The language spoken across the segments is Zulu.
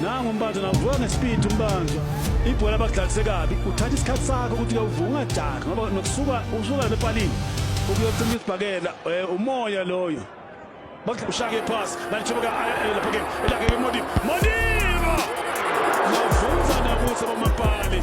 nangu umbanjwa navuka ngesipidi umbanjwa ibhola bakudlalise kabi uthatha isikhathi sakho ukuthi uyavuka ungajaki ngoba nokusuka usuka lepalini ukuyocima isibhakela eh, umoya loyo ushake iphasi nalithubuka eh, eh, lapha ke elake ke modi modiba navuza nabuso bamapali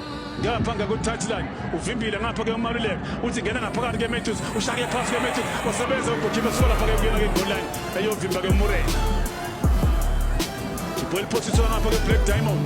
ngapha ngakuthathilan uvimbile ngapha ke umaluleka uthi ngena ngaphakathi ke matthews ushake phasi ke matthews wasebenza ugojibe sola phake kuyena ke goal line eyovimba ke murray ibhola liphosiswa ngapha ke black diamond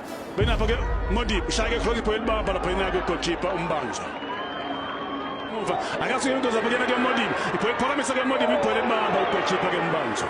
Benapha ke Modip ushayeke khona ibhola elibamba lapha inake ugoalkeeper umbanjwa. Muva akasuke into zapha kuyena ke Modip. Ibhola iphakamisa ke Modip ibhola elibamba ugoalkeeper ke umbanjwa.